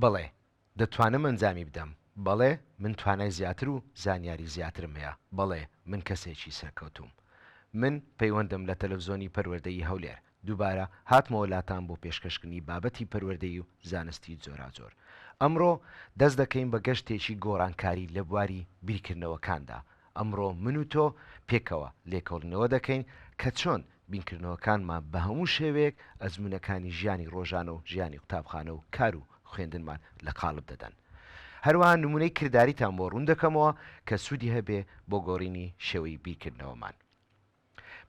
بەڵێ دەتوانم ئەنجامی بدەم. بەڵێ من توانای زیاتر و زانیاری زیاترم هەیە. بەڵێ من کەسێکی سەرکەوتووم. من پەیوەندم لە تەلەفزۆنی پەروەردەیی هەولێر دووبارە هاتمەوە لاتان بۆ پێشکەشکردنی بابەتی پەروەردەیی و زانستی جۆراجۆر. ئەمڕۆ دەست دەکەین بە گەشتێکی گۆڕانکاری لە بواری بیرکردنەوەکاندا. ئەمڕۆ من و تۆ پێکەوە لێکۆڵینەوە دەکەین کە چۆن بیرکردنەوەکانمان بە هەموو شێوەیەک ئەزموونەکانی ژیانی ڕۆژانە و ژیانی قوتابخانە و کار و خوێندنمان لە قاڵب دەدەن. هەروەها نموونەی کرداریتان بۆ ڕوون دەکەمەوە کە سوودی هەبێ بۆ گۆڕینی شێوەی بیرکردنەوەمان.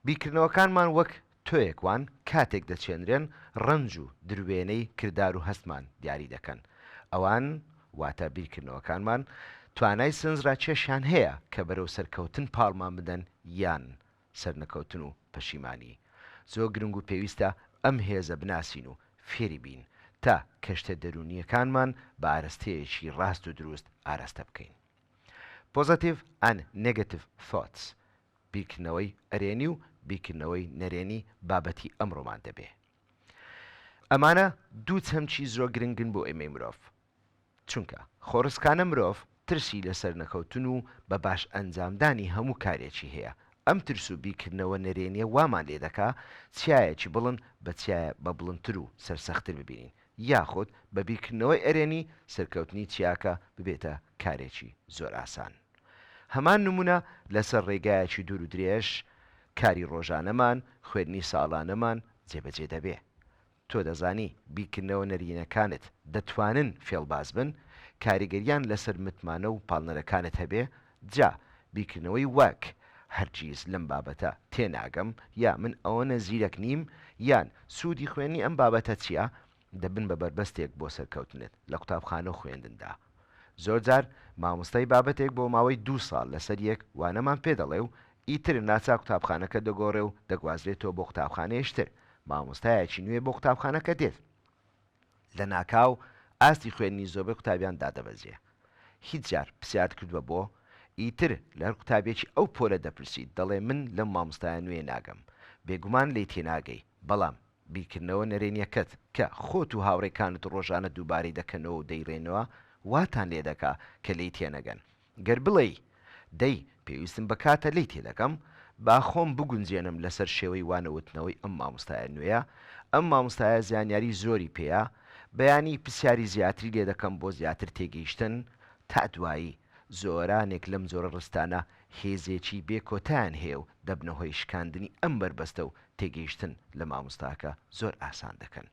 بیرکردنەوەکانمان وەک تۆیەک وان کاتێک دەچێنرێن ڕەنج و دروێنەی کردار و هەستمان دیاری دەکەن. ئەوان، واتە بیرکردنەوەکانمان، توانای سنزرا کێشیان هەیە کە بەرەو سەرکەوتن پاڵمان بدەن یان سەرنەکەوتن و پەشیمانی. زۆر گرنگ و پێویستە ئەم هێزە بناسین و فێری بین تا کەشتە دەروونییەکانمان بە ئارەستەیەکی ڕاست و دروست ئاراستە بکەین. Positive and Negative Thoughts بیرکردنەوەی ئەرێنی و بیرکردنەوەی نەرێنی بابەتی ئەمڕۆمان دەبێ. ئەمانە دوو چەمکی زۆر گرنگن بۆ ئێمەی مرۆڤ. چونکە خۆڕسکانە مرۆڤ ترسی لە سەرنەکەوتن و بە باش ئەنجامدانی هەموو کارێکی هەیە، ئەم ترس و بیرکردنەوە نەرێنیە وامان لێ دەکا چیایەکی بڵند بە چیایە بە بڵندتر و سەرسەختتر ببینین یاخود بە بیرکردنەوەی ئەرێنی سەرکەوتنی چیاکە ببێتە کارێکی زۆر ئاسان. هەمان نمونە لەسەر ڕێگایەکی دوور و درێژ، کاری ڕۆژانەمان، خوێندنی ساڵانەمان جێبەجێ دەبێ. تۆ دەزانی بیرکردنەوە نەرینەکانت دەتوانن فێڵباز بن، کاریگەریان لەسەر متمانە و پاڵنەرەکانت هەبێ، جا بیرکردنەوەی وەک، هەرگیز لەم بابەتە تێناگەم، یا من ئەوەنە زیرەک نیم، یان سوودی خوێندنی ئەم بابەتە چییە؟ دەبن بە بەربەستێک بۆ سەرکەوتنت لە قوتابخانە و خوێندندا. زۆرجار مامۆستای بابەتێک بۆ ماوەی دوو ساڵ لەسەر یەک وانەمان پێ دەڵێ و ئیتر ناچار قوتابخانەکە دەگۆڕێ و دەگوازرێتەوە بۆ قوتابخانەیش تر، مامۆستایەکی نوێ بۆ قوتابخانەکە دێت، لەناکاو ئاستی خوێندنی زۆربەی قوتابیان دادەبەزێ. هیچ جار پرسیارت کردووە بۆ؟ ئیتر لە هەر قوتابیەکی ئەو پۆلە دەپرسیت دەڵێ من لەم مامۆستایە نوێیە ناگەم. بێگومان لێی تێناگەی، بەڵام بیرکردنەوە نەرێنیەکەت کە خۆت و هاوڕێکانت ڕۆژانە دووبارەی دەکەنەوە و دەیڕێنەوە واتان لێدەکا کە لێی تێنەگەن. گەر بڵێی، دەی پێویستم بە کاتە لێی تێدەگەم، با خۆم بگونجێنم لەسەر شێوەی وانەوتنەوەی ئەم مامۆستایە نوێیە، ئەم مامۆستایە زانیاری زۆری پێیە، بەیانی پرسیاری زیاتری لێدەکەم بۆ زیاتر تێگەیشتن. تا دوایی. زۆرانێک لەم جۆرە ڕستانە هێزێکی بێ کۆتایان هەیە و دەبنە هۆی شکاندنی ئەم بەربەستە و تێگەیشتن لە مامۆستاکە زۆر ئاسان دەکەن.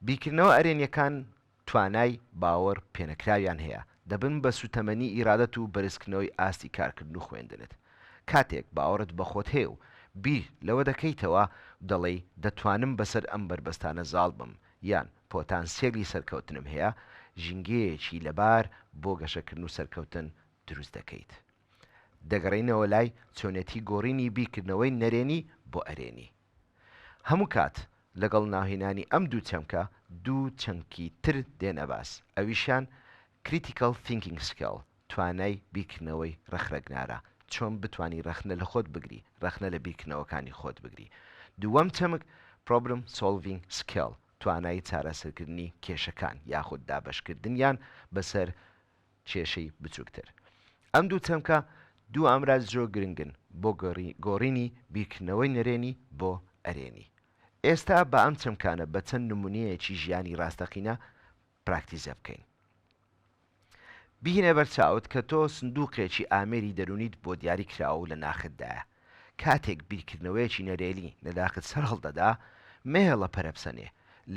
بیرکردنەوە ئەرێنیەکان توانای باوەڕ پێنەکراویان هەیە، دەبن بە سوتەمەنی ئیرادەت و بەرزکردنەوەی ئاستی کارکردن و خوێندنت. کاتێک باوەڕت بە خۆت هەیە و بیر لەوە دەکەیتەوە دەڵێی دەتوانم بەسەر ئەم بەربەستانە زاڵ بم یان پۆتانسیەلی سەرکەوتنم هەیە، ژینگەیەکی لەبار بۆ گەشەکردن و سەرکەوتن دروست دەکەیت. دەگەڕێینەوە لای چۆنێتی گۆڕینی بیرکردنەوەی نەرێنی بۆ ئەرێنی. هەموو کات لەگەڵ ناوهێنانی ئەم دوو چەمکە، دوو چەمکی تر دێنە باس، ئەویشیان Critical Thinking Skill، توانای بیرکردنەوەی ڕەخنەگرانە، چۆن بتوانی ڕەخنە لە خۆت بگری، ڕەخنە لە بیرکردنەوەکانی خۆت بگری. دووەم چەمک Problem Solving Skill، توانای چارەسەرکردنی کێشەکان یاخود دابەشکردنیان بەسەر کێشەی بچووکتر. ئەم دوو چەمکە دوو ئامراز جۆ گرنگن بۆ گۆڕینی بیرکردنەوەی نەرێنی بۆ ئەرێنی. ئێستا با ئەم چەمکانە بە چەند نموونەیەکی ژیانی ڕاستەقینە پراکتیزە بکەین. بهینە بەر چاوت کە تۆ سندووقێکی ئامێری دەروونیت بۆ دیاری کراوە و لە ناختدایە. کاتێک بیرکردنەوەیەکی نەرێنی لە ناخت سەر هەڵدەدا، مەهێڵە پەرەبسەنێ،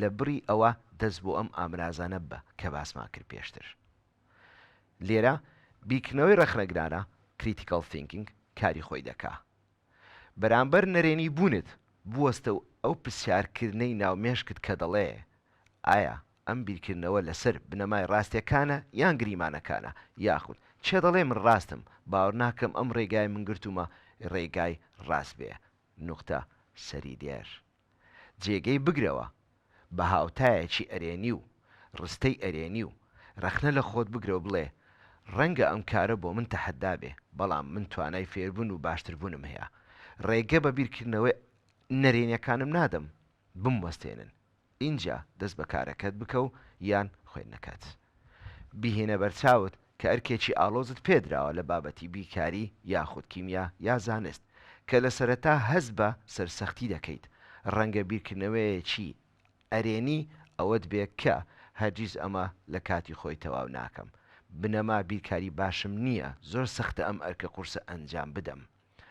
لە بڕی ئەوە دەست بۆ ئەم ئامرازانە ببە کە باسمان کرد پێشتر. لێرە بیرکردنەوەی ڕەخنەگرانە، Critical Thinking، کاری خۆی دەکا. بەرامبەر نەرێنی بوونت، بوەستە و ئەو پرسیارکردنەی ناو مێشکت کە دەڵێ، ئایا ئەم بیرکردنەوە لەسەر بنەمای ڕاستیەکانە یان گریمانەکانە؟ یاخود، کێ دەڵێ من ڕاستم؟ باوەرناکەم ئەم ڕێگای من گرتوومە ڕێگای ڕاست بێ. نوقتە، سەری دێر. جێگەی بگرەوە بە هاوتایەکی ئەرێنی و ڕستەی ئەرێنی و ڕەخنە لە خۆت بگرە و بڵێ ڕەنگە ئەم کارە بۆ من تەحەدا بێ بەڵام من توانای فێربوون و باشتربوونم هەیە ڕێگە بە بیرکردنەوە نەرێنیەکانم نادەم بموەستێنن ئینجا دەست بە کارەکەت بکە و یان خوێندنەکەت بیهێنە بەرچاوت کە ئەرکێکی ئاڵۆزت پێدراوە لە بابەتی بیرکاری یاخود کیمیا یا زانست کە لە سەرەتا هەست بە سەرسەختی دەکەیت، ڕەنگە بیرکردنەوەیەکی ئەرێنی ئەوەت بێ کە، هەرگیز ئەمە لە کاتی خۆی تەواو ناکەم، بنەما بیرکاری باشم نییە، زۆر سەختە ئەم ئەرکە قورسە ئەنجام بدەم.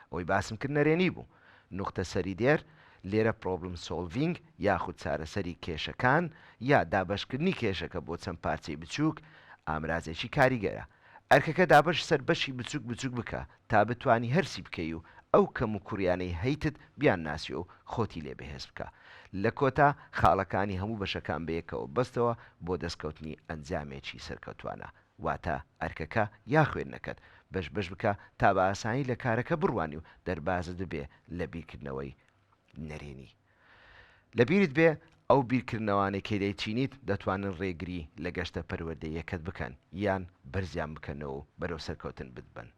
ئەوەی باسم کرد نەرێنی بوو. نوختە سەری دێر، لێرە پرۆبلم سۆلڤینگ یاخود چارەسەری کێشەکان یا دابەشکردنی کێشەکە بۆ چەند پارچەی بچووک ئامرازێکی کاریگەرە. ئەرکەکە دابەش سەر بەشی بچووک بچووک بکە تا بتوانی هەرسی بکەی و ئەو کەم و کوڕیانەی هەیتت بیان ناسی و خۆتی لێ بەهێز بکە. لە کۆتا خاڵەکانی هەموو بەشەکان بەیەکەوە بەستەوە بۆ دەستکەوتنی ئەنجامێکی سەرکەوتوانە. واتە ئەرکەکە یا خوێندنەکەت بەش بەش بکە تا بە ئاسانی لە کارەکە بڕوانی و دەربازت ببێ لە بیرکردنەوەی نەرێنی. لە بیرت بێ ئەو بیرکردنەوانەی کە دەیچینیت دەتوانن رێگری لە گەشتە پەروەردەییەکەت بکەن یان بەرزیان بکەنەوە و بەرەو سەرکەوتن بتبەن.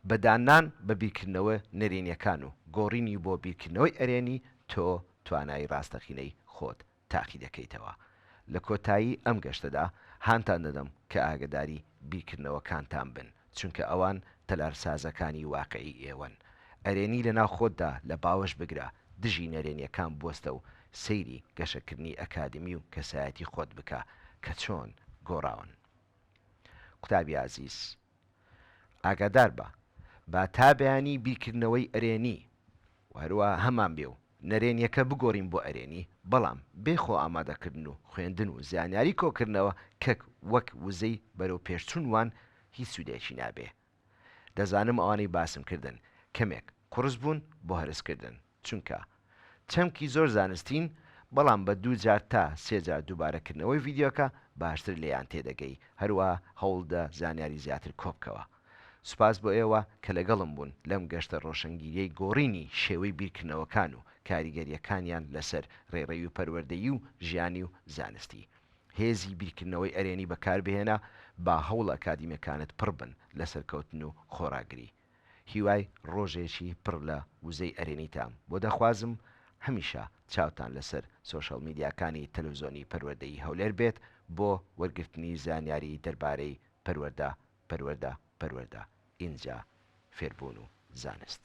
بە داننان بە بیرکردنەوە نەرێنیەکان و گۆڕینی بۆ بیرکردنەوەی ئەرێنی تۆ توانای راستەقینەی خۆت تاقی دەکەیتەوە. لە کۆتایی ئەم گەشتەدا هانتان دەدەم کە ئاگەداری بیرکردنەوەکانتان بن، چونکە ئەوان تەلارسازەکانی واقعی ئێوەن. ئەرێنی لەناو خۆتدا لە باوەش بگرە، دژی نەرێنیەکان بوەستە و سەیری گەشەکردنی ئەکادمی و کەسایەتی خۆت بکە کە چۆن گۆڕاون. قوتابی ئازیز. ئاگادار بە، با تا بەیانی بیرکردنەوەی ئەرێنی و هەروەها هەمان بێ و نەرێنیەکە بگۆرین بۆ ئەرێنی، بەڵام بێ خۆ ئامادەکردن و خوێندن و زانیاری کۆکردنەوە کەک وەک وزەی بەرەو پێش چون وان هیچ سودێکی نابێ. دەزانم ئەوانەی باسم کردن کەمێک قوڕس بوون بۆ هەرس کردن. چونکە چەمکی زۆر زانستین بەڵام بە دوو جار تا سێ جار دووبارە کردنەوەی ڤیدیۆکە باشتر لێیان تێدەگەی هەروەها هەوڵدە زانیاری زیاتر کۆبکەوە سوپاس بۆ ئێوە کە لەگەڵم بوون لەم گەشتە ڕۆشەنگیریەی گۆڕینی شێوەی بیرکردنەوەکان و کاریگەریەکانیان لەسەر ڕێڕەوی و پەروەردەیی و ژیانی و زانستی هێزی بیرکردنەوەی ئەرێنی بەکاربهێنە با هەوڵە ئەکادیمیەکانت پڕبن لە سەرکەوتن و خۆڕاگری. هیوای ڕۆژێکی پڕ لە وزەی ئەرێنیتام بۆ دەخوازم، هەمیشە چاوتان لەسەر سۆشیاڵ میدیاکانی تەلەوزۆنی پەروەردەی هەولێر بێت بۆ وەرگرتنی زانیاری دەربارەی پەروەردە پەروەردە پەروەردە ئینجا فێربوون و زانست.